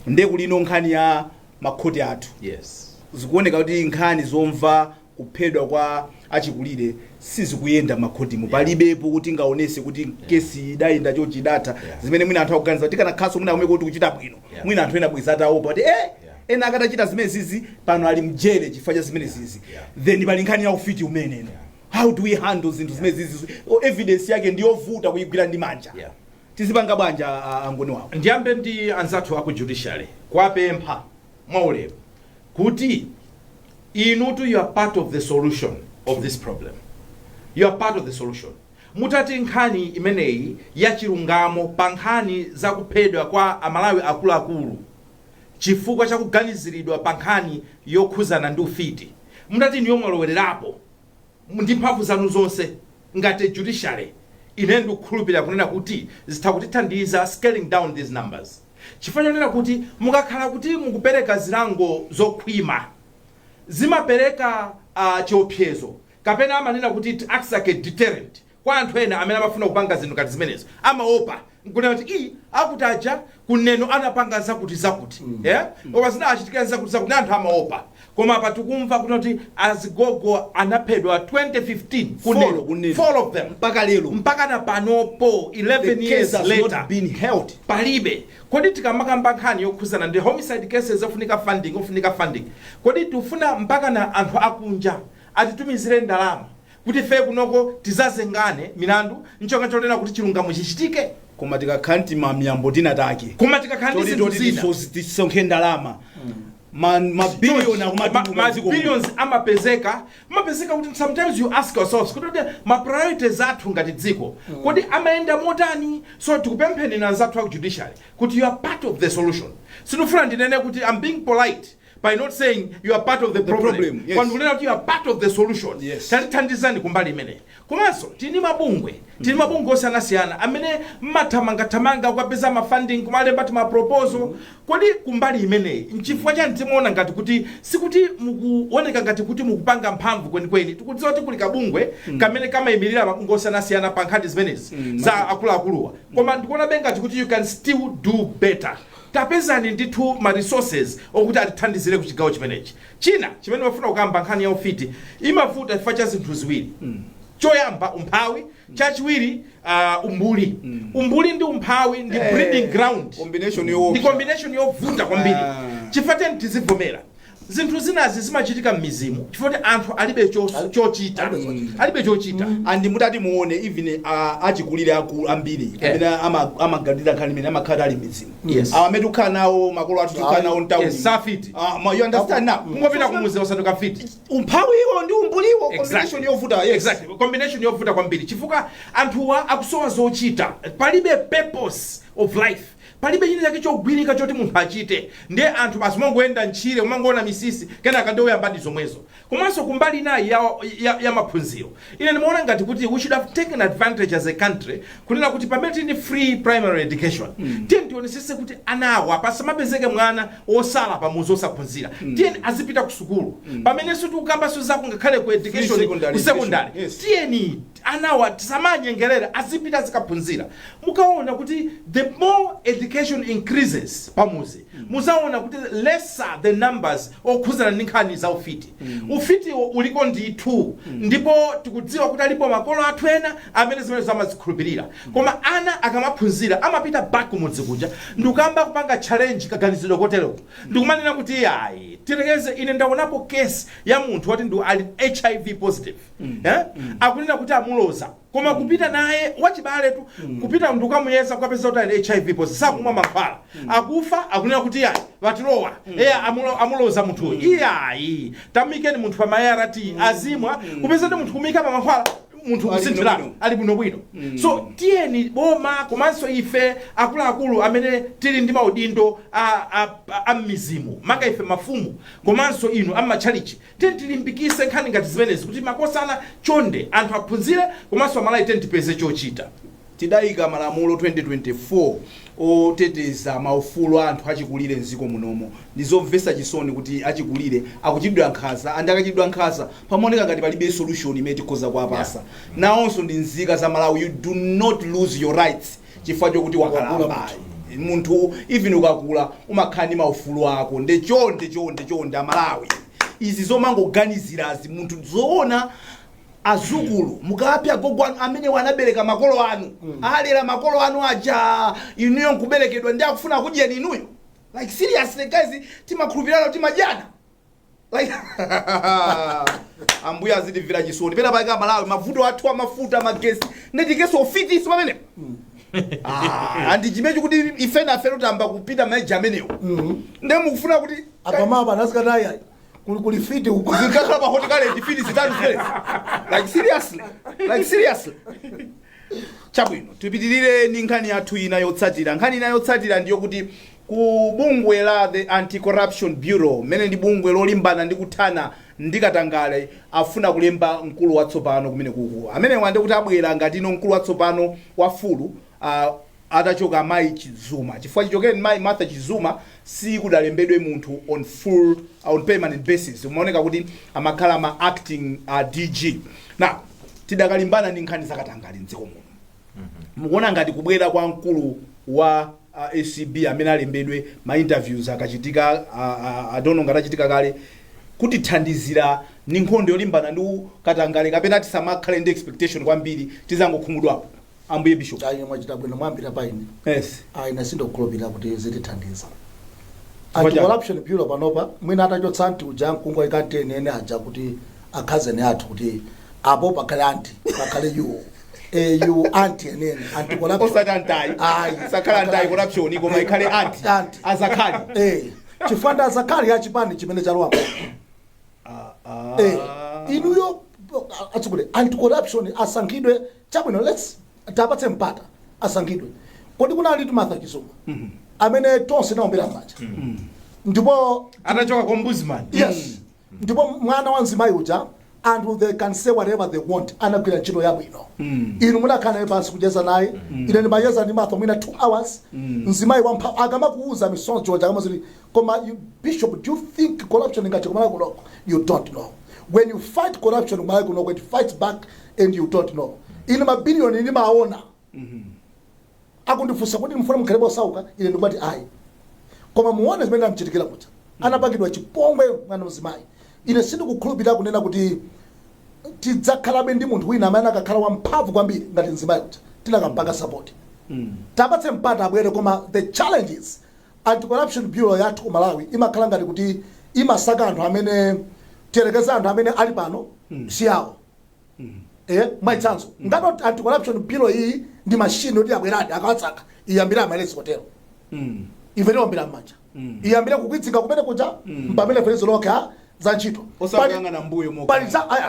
nde kulinso nkhani ya makhoti athu Yes. zikuoneka kuti nkhani zomva kuphedwa kwa achikulire sizikuyenda makhotimu palibepo kuti tingaonese kuti kesi idayenda chonchi idatha Yeah. zimene mwina anthu akuganiza kuti tikanakhalanso mwina kumeneko tikuchita bwino Yeah. mwina anthu ena bweza ataopa kuti eh ena atachita zimene zizi pano ali mjele chifukwa cha zimene zizi Yeah. then pali nkhani ya ufiti umenewo how do we handle zinthu zimene zizi O, evidence yake ndi yovuta kuyigwira ndi manja Yeah. tizipanga bwanji a- a- angoni wawo ndiyambe ndi anzathu aku judiciary kuwapempha mwaulemu kuti inutu you are part of the solution of this problem you are part of the solution mutati nkhani imeneyi ya chilungamo pa nkhani za kuphedwa kwa amalawi akuluakulu chifukwa cha kuganiziridwa pa nkhani yokhuzana ndi ufiti mutati inuyo mwalowererapo ndi mphamvu zanu zonse ngati judiciary ine ndikukhulupirira kunena kuti zitha kutithandiza scaling down these numbers chifukwa chonena kuti mukakhala kuti mukupereka zilango zokhwima zimapereka a, chiopsezo kapena amanena kuti it acts like a deterrent kwa anthu ena amene amafuna kupanga zinthu ngati zimenezo amaopa nkunena kuti ii akuti aja ku Neno anapanga zakuti zakuti yeah? koma zinawachitikira zakuti zakuti na anthu amaopa Koma apa tikumva kunena kuti azigogo anaphedwa 2015 ku Neno, 4 ku Neno. 4 of them Mpaka lero. mpaka na panopo 11 The case years has later not been held. palibe kodi tikamakamba nkhani yokhuzana ndi homicide cases ofunika funding ofunika funding kodi tifuna mpaka na anthu akunja atitumizire ndalama kuti fe kunoko tizazengane milandu ncholinga chonena kuti chilungamo chichitike Koma tikakhala nditimamiyambo tinatake. koma tikakhala ndi Choti zinthu choti zina tisozi- tisonkhe ndalama. ma ma billion ma, akumatuluka ma mdziko muno. billions amapezeka amapezeka kuti sometimes you ask yourselves kuti kuti ma priorities athu ngati dziko kodi amayenda motani so tikupempheni nawo anzathu aku judiciary kuti you are part of the solution sindikufuna ndinene kuti i'm being polite by not saying you are part of the, problem, problem, yes. Koma ndikunena kuti you are part of the solution Yes. tatithandizani kumbali imeneyi Komanso tili ndi mabungwe, tili ndi mabungwe osiyanasiyana amene m'mathamangathamanga kukapeza ma funding, kumalemba tima proposal, kodi kumbali imeneyi nchifukwa chani zimaona ngati kuti sikuti mukuoneka ngati kuti mukupanga mphamvu kwenikweni? Tikudziwa kuti kuli kabungwe kamene kamaimilira mabungwe osiyanasiyana pa nkhani zimenezi za akuluakuluwa, koma ndikuonabe ngati kuti you can still do better. Tapezani ndithu ma resources okuti atithandizire ku chigawo chimenechi. China chimene ndimafuna kukamba, nkhani ya ufiti imavuta chifukwa cha zinthu ziwiri. Choyamba, umphawi. Chachiwiri, ah, umbuli. Umbuli ndi umphawi ndi Eh, breeding ground. combination yoopsa. Ndi combination yovuta kwambiri. Ah. Chifukwa tiyeni tizivomera. Zinthu zinazi zimachitika m'mizimu chifukwa kuti anthu alibe chos- chochita. alibe chochita. Alibe chochita. and mutati muone even ah, achikulire akulu ambiri amene ama- amaganira nkhani imene amakhala ali m'mizimu Yes. awa amene tikukhala nawo makolo athu tikukhala nawo mtauni Yes, safiti. Ah, ma- you understand now kungopita kumuzi osanduka mfiti umphawiwo ndi umbuliwo combination yovuta yes exactly combination yovuta kwambiri chifukwa anthuwa akusowa zochita palibe purpose of life palibe china chake chogwirika choti munthu achite ndiye anthu basi umangoyenda ntchire umangoona misisi kenaka ndiye uyambadi zomwezo Komanso kumbali inayi ya, ya, ya maphunziro ine ndimaona ngati kuti we should have taken advantage as a country kunena kuti pamene tili ndi free primary education mm. tiyeni tionesese kuti anawa pasamapezeke mwana osala pamuzi osaphunzira mm. tiyeni azipita ku sukulu mm. pamenenso tikukambanso za ku ngakhale ku education secondary ku secondary education, yes. tiyeni anawa tisamanyengelele azipita azikaphunzira mukaona kuti the more education increases pamuzi muzaona kuti lesser the numbers okhuzana ndi nkhani za ufiti ufitiwo uliko ndithu ndipo tikudziwa kuti alipo makolo athu ena amene zimenezi amazikhulupirira koma ana akamaphunzira amapita back kumudzi kuja ndikuyamba kupanga challenge kaganizidwe koteroko ndikumanena kuti ayi tirekeze ine ndaonapo case ya munthu woti ndi ali hiv positive eh? akunena kuti amuloza koma kupita naye wachibaletu kupita ndi kukamuyeza kukapeza kuti ali hiv posi sakumwa mankhwala akufa akunena kuti ayi watilowa eya amulo- amuloza munthu iyayi tamuikeni munthu pa ma ART azimwa kupeza kuti munthu kumuika pa mankhwala munthu Ali kusinthiratu bwinobwino. ali bwinobwino so tiyeni boma komanso ife akuluakulu amene tili ndi maudindo a- a- a- a m'mizimu maka ife mafumu komanso inu ammatchalichi Tiyeni tilimbikise nkhani ngati zimenezi kuti makosana chonde anthu aphunzire komanso amalawi tiyeni tipeze chochita. Tidaika malamulo 2024 oteteza maufulu a anthu achikulire m'ziko munomo. Ndizomvesa chisoni kuti achikulire akuchitidwa nkhanza and akachitidwa nkhanza pamaoneka ngati palibe solution imene tikhoza kuwapasa. Nawonso ndi nzika za Malawi you do not lose your rights. chifukwa chokuti wakalamba munthu even ukakula umakhala ndi maufulu ako nde chonde chonde chonde amalawi izi zomangoganizirazi munthu zoona azukulu mukapha agogo anu amene anabereka makolo anu alera makolo anu aja inuyo nkuberekedwa ndi akufuna akudyeni inuyo like seriously guys timakhulupirana timadyana Like, ambuye azitimvera chisoni pena pake amalawi mavuto athu amafuta magesi nde tiikenso ufiti pamene Ah, and chimenechi kuti ife nafe tayamba kupita ma age amenewo nde mukufuna kuti akamaba nasikataya kuli kuli fiti uko zikakhala pa hot current fiti zitatu zija like seriously like seriously chabwino tipitirire ni nkhani yathu ina yotsatira nkhani ina yotsatira ndiyo kuti Ku bungwe la The Anti-Corruption Bureau, m'mene ndi bungwe lolimbana ndi kuthana ndi katangale, afuna kulemba mkulu watsopano kumenekuku. Amenewa ndekuti abwera ngatino mkulu watsopano wa full atachoka mayi Chizuma chifukwa chichokereni mayi Martha Chizuma sikudalembedwe munthu on full on permanent basis kumaoneka kuti amakhala ma acting DG. Now tidakalimbana ndi nkhani zakatangale mdziko muno. mukuona ngati kubwera kwa mkulu wa uh, acb amene alembedwe ma interviews akachitika uh, uh, atono ngati achitika kale kutithandizira ndi nkhondo yolimbana ndi katangale kapena tisamakhale ndi expectation kwambiri tizangokhumudwapo ambuye bishop ayi mwachita bwino mwayambira pa ine yes ayi ine sindikhulupirira kuti zitithandiza Chifukwa anti chani? corruption bureau panopa mwina atachotsa anti uja nkungoika anti eni eni aja kuti akhazeni athu kuti apo pakhale anti pakhale yuwo eyu anti enieni anti corruption osati antayi Ayi. sakhala antayi corruption koma ikhale anti Anti. azakhali eh chifukwa ndi azakhali a chipani chimene chalowamo eh inuyo atsukule anti corruption asankhidwe chabwino let's tapatse mpata asankhidwe kodi kunalitu Martha Chizuma amene tonse tinaombera m'manja ndipo anachoka kwa ombudsman yes ndipo mwana wa mzimayi uja and they can say whatever they want anagwira ntchito yabwino inu munakhala naye pansi kucheza naye ine ndimacheza ndi martha mwina 2 hours mzimayi wamphamvu akamakuuza misonzi choncho akamati koma you- bishop do you think corruption ingathe ku Malawi kunoko you don't know when you fight corruption ku Malawi kunoko it fights back and you don't know inu mabiliyoni ndimaona akundifunsa kuti mfuna mukhalebe osauka ine ndikumati ayi koma muone zimene zinamchitikira kuja anapangidwa chipongwe mwana wamzimayi ine sindikukhulupirira kunena kuti tidzakhalabe ndi munthu wina amene angakhale wamphamvu kwambiri ngati mzimayi uja tikanampanga sapoti tapatse mpata abwere koma the challenge is anti-corruption bureau yathu ku malawi imakhala ngati kuti imasaka anthu amene tiyerekeze anthu amene ali pano si awo Eh, mwachitsanzo ngati anti corruption bureau iyi ndi mashini oti abweradi akawasaka iyambire amaresti kotero ife tiwombera m'manja iyambire kukwidzinga kumene kuja mpamene ferezo lokha za ntchito osakuyang'ana mbuyo mokha. pali za ayi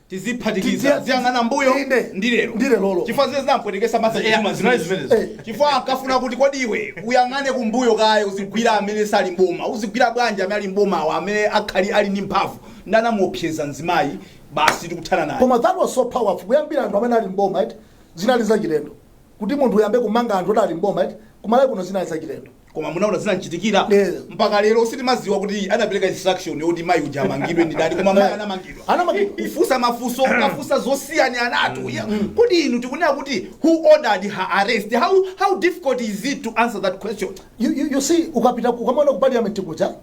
tiziphatikiza Tizi- ziyang'ana mbuyo Inde. ndi lero Ndi lerolo. chifukwa zimene zinampwetekesa Martha Yeah, Chizuma zinali zimene zimenezi. Eh. chifukwa ankafuna kuti kodi iwe uyang'ane kumbuyo kaye uzigwira amene sali mboma uzigwira bwanji amene ali mbomawa amene akhali ali ndi mphamvu nde anamuopseza mzimayi basi tikuthana naye. Koma that was so powerful kuyambira anthu amene ali m'boma eti zinali zachilendo kuti munthu uyambe kumanga anthu oti ali m'boma eti kumalawi kuno zinali zachilendo koma munaona zinamchitikira Yeah. mpaka lero sitimadziwa kuti anapereka instruction yoti mayi uja amangidwe ndi ndani koma mayi anamangidwa Anamangidwa. kufunsa mafunso kufunsa zosiyanasiyanatu Yeah. kodi inu tikunena kuti who ordered her arrest how, how difficult is it to answer that question you, you, you see ukapita ukamona ku parliament kuja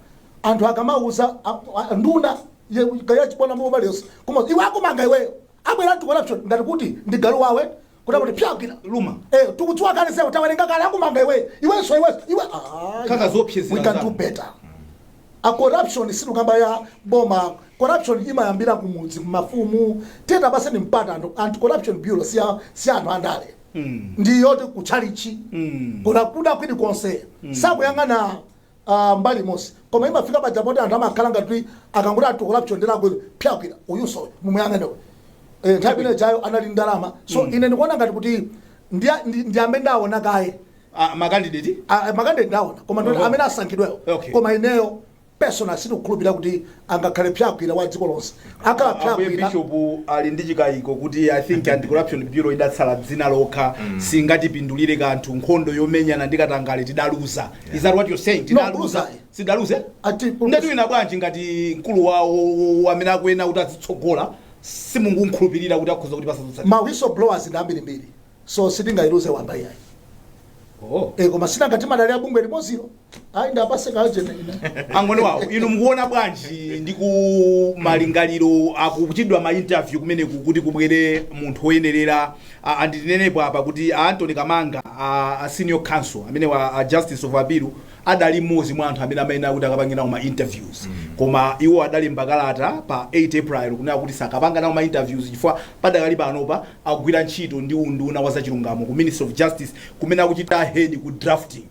anthu akamauza a- a- nduna Iye galu achibwana mu bali yonse. Koma iwe akumanga iweyo. Abwera anti corruption ngati kuti ndi galu wawe. Kuti akuti phya gwira luma. Eh tukudziwa kale sewe tawerenga kale akumanga iwe. Iwenso iwenso iwe. Ah. Kaka iwe. zoopsezera We can do zanu. better. A corruption situkamba ya boma. Corruption imayambira kumudzi kumafumu. Teta basi ni mpata anthu anti corruption bureau si ya- si ya anthu andale. Mm. Ndi yoti kuchalichi. Mm. Kwina kulikonse. Sakuyang'ana aah mbali imodzi koma imafika paja poti anthu amakhala ngati kuti akangoti anti corruption bwera agwele phya gwira uyuso uyu mumuyang'ane uyu eh nthawi imene ijayo anali ndi ndalama so ine ndikuona ngati kuti ndi ndi- ndi amene ndaona kaye Ah, makandideti Ah, makande ndaona koma ndoti Oho. amene asankhidwewo Okay. koma ineyo personal sindikukhulupirira kuti angakhale psagwira wa dziko lonse akhala Ambuye psagwira Bishop ali ndi chikayiko kuti I think anti-corruption bureau idatsala dzina lokha singatipindulire kanthu nkhondo yomenyana ndi katangale tidaluza is that what you're saying tidaluza kuluza. sitidaluze Ati- nde tiwina bwanji ngati mkulu wawo amene akuyenera kuti azitsogola simukumkhulupirira kuti akhoza kutipatsa zotsa ma whistleblowers ndi ambirimbiri so sitingayiluze wamba iyayi oh. e koma sinanga timadalira bungwe limodzilo ayi ndapase ka agent ina angoni wawo inu mukuona bwanji ndi ku malingaliro akuchitidwa ma interview kumene kuti kubwere munthu woyenerera a- and tinenepo apa kuti a anthony kamanga a, a senior counsel amenewa a justice of appeal adali mmodzi mwa anthu amene amayenera kuti akapange nawo ma interviews koma iwo adalemba kalata pa 8 april kunena kuti sakapanga nawo ma interviews chifukwa padakali panopa akugwira ntchito ndi unduna wa zachilungamo ku ministry of justice kumene akuchita head ku drafting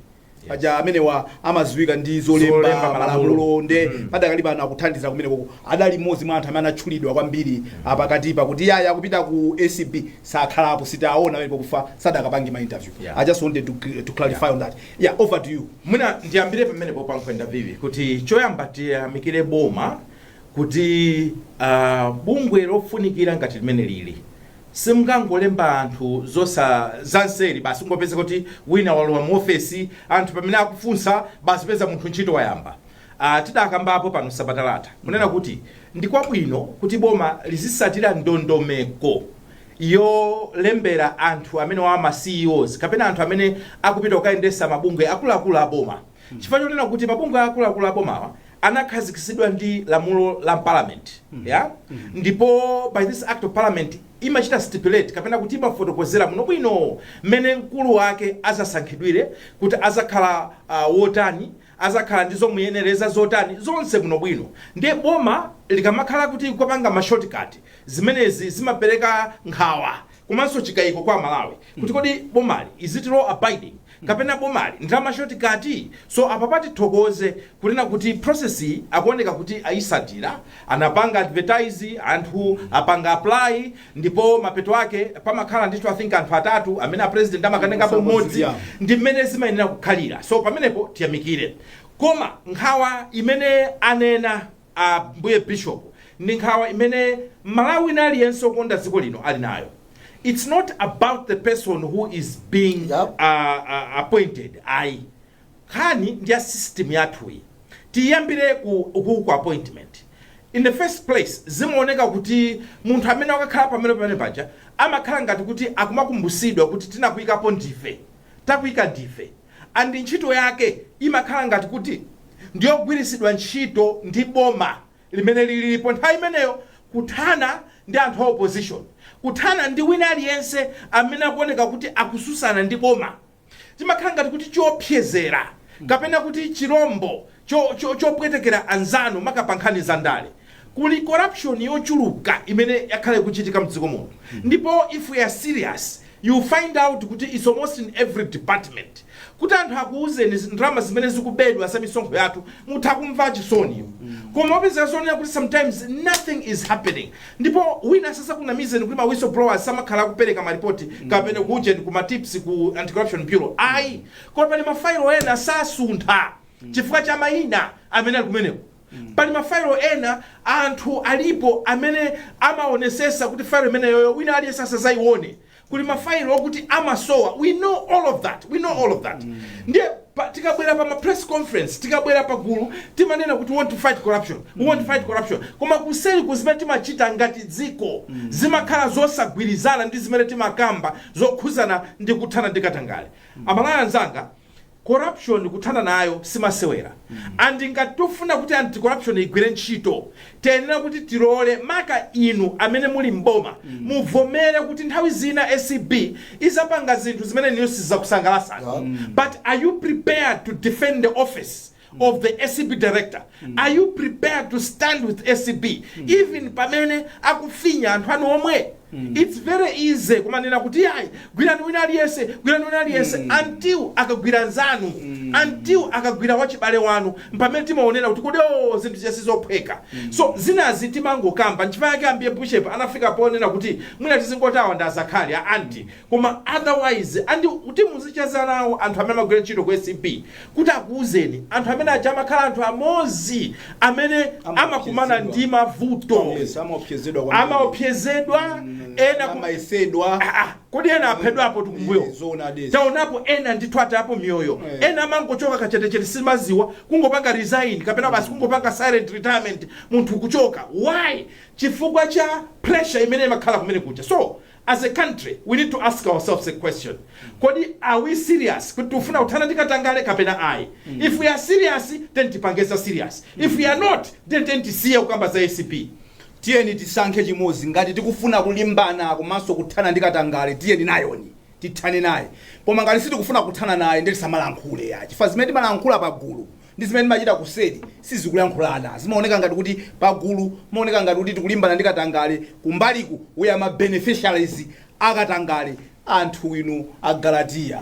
paja amenewa amaziwika ndi zolemba Zolemba malamulo. malamulo nde padakali pano akuthandiza kumenekoko adali mmodzi mwa anthu amene anatchulidwa kwambiri pakatipa kuti yaya akupita ku acb sakhalapo sitaona amene pakufa sadakapange ma interview Yeah. i just wanted to, to clarify on that yeah over to you mwina ndiyambire pamenepo pankhani ya interview kuti choyamba tiyamikire boma kuti uh, bungwe lofunikira ngati limenelili Simungangolemba anthu zosa zanseri basi kungopezeka kuti wina walowa mu ofesi anthu pamene akufunsa basi peza munthu ntchito wayamba. Aaa tidakambapo pano sabata latha kunena kuti ndi kwabwino kuti boma lizisatira ndondomeko yolembera anthu amenewawa ma CEOs kapena anthu amene akupita kukayendesa mabungwe akuluakulu a boma. chifukwa chonena kuti mabungwe akuluakulu abomawa anakhazikitsidwa ndi lamulo la parliament ndipo by this act of parliament imachita stipulate kapena kuti imafotokozera bwinobwino mmene mkulu wake azasankhidwire kuti azakhala uh, wotani azakhala ndi zomuyenereza zotani zonse bwinobwino ndiye boma likamakhala kuti kupanga ma shortcut zimenezi zimapereka nkhawa komanso chikayiko kwa amalawi kuti kodi bomali is it law abiding kapena boma limadana ndi ma shortcut so apapa tithokoze kunena kuti process iyi akuoneka kuti ayisatira anapanga advertise anthu apanga apply ndipo mapeto ake pamakhala ndithu i think anthu atatu amene a president amakanenapo mmodzi ndi mmene zimayenera kukhalira so pamenepo tiyamikire koma nkhawa imene anena Ambuye Bishop, ndi nkhawa imene M'malawi wina aliyense okonda dziko lino ali nayo. Its not about the person who is being Yep. appointed ayi. Nkhani ndi ya system yathuyi. Tiyambire ku, ku, ku appointment. In the first place, zimaoneka kuti munthu amene wakakhala pamene pamene paja amakhala ngati kuti akumakumbusidwa kuti tinakuikapo ndife. Takuika ndife. and ntchito yake imakhala ngati kuti ndiyogwiritsidwa ntchito ndi boma limene lilipo nthawi imeneyo kuthana ndi anthu a opposition, kuthana ndi wina aliyense amene akuoneka kuti akususana ndi boma. Chimakhala ngati kuti chiopsezera kapena kuti chilombo cho cho chopwetekera anzanu maka pa nkhani za ndale kuli corruption yochuluka imene yakhala ikuchitika mdziko muno ndipo if we are serious you find out kuti it's almost in every department kuti anthu akuuzeni zi- ndalama zimene zikubedwa za misonkho yathu mutha kumva chisoni koma wapeza zonena kuti sometimes nothing is happening ndipo wina asakunamizeni kuti ma whistleblowers samakhala akupereka maripoti kapena kuujeni ku matips ku anti corruption bureau ayi koma pali mafailo ena sasuntha chifukwa cha mayina amene ali kumeneko pali mafailo ena anthu alipo amene amaonesesa kuti failo imeneyoyo wina aliyense asazayione kuli mafailo okuti amasowa we know all of that we know all of that ndiye pa- tikabwera pa ma press conference tikabwera pa gulu timanena kuti we want to fight corruption we want to fight corruption koma kuseli kuno zimene timachita ngati dziko zimakhala zosagwirizana ndi zimene timakamba zokhuzana ndi kuthana ndi katangale amalawi anzanga Corruption kuthana nayo simasewera and ngati tofuna kuti anti corruption igwire ntchito tiyenera kuti tilole maka inu amene muli m'boma muvomere kuti nthawi zina acb izapanga zinthu zimene inuyo sizizakusangalasani but are you prepared to defend the office of the acb director are you prepared to stand with acb even pamene akufinya anthu anu omwe its very easy kumanena kuti yayi gwirani wina aliyense gwirani wina aliyense until akagwira nzanu until akagwira wachibale wanu mpamene timaonera kuti kodi o zinthu izi si zophweka so zinazi timangokamba nchifukwa yake ambuye bishop anafika ponena kuti mwina tizingotawa ndi azakhali a anti koma otherwise and kuti muzicheza nawo anthu amene amagwira ntchito ku acb kuti akuuzeni anthu amene aja amakhala anthu amodzi amene amakumana Amaopsezedwa. ndi mavuto Yes, amaopsezedwa kwambiri. amaopsezedwa ena ku- amayesedwa Ah, ah, kodi ena aphedwapo tikumbuyo Eh, zoona desi. taonapo ena ndithu atayapo miyoyo Eh. ena amangochoka kachetechete simaziwa kungopanga resign kapena basi kungopanga silent retirement munthu kuchoka why chifukwa cha pressure imene imakhala kumene kuja so As a country we need to ask ourselves a question, kodi are we serious kuti tikufuna kuthana ndi katangale kapena ayi? If we are serious tiyeni tipange za serious, if we are not then tiyeni tisiye kukamba za acb. tiyeni tisankhe chimodzi ngati tikufuna kulimbana komanso kuthana ndi katangale tiyeni nazoni tithane naye koma ngati sitikufuna kuthana naye ndiye tisamalankhule ya chifukwa zimene timalankhula pa gulu ndi zimene timachita kuseri sizikulankhulana. Zimaoneka ngati kuti pagulu timaoneka ngati kuti tikulimbana ndi katangale, kumbaliku we are ma beneficiaries a katangale, anthu inu a Galatiya.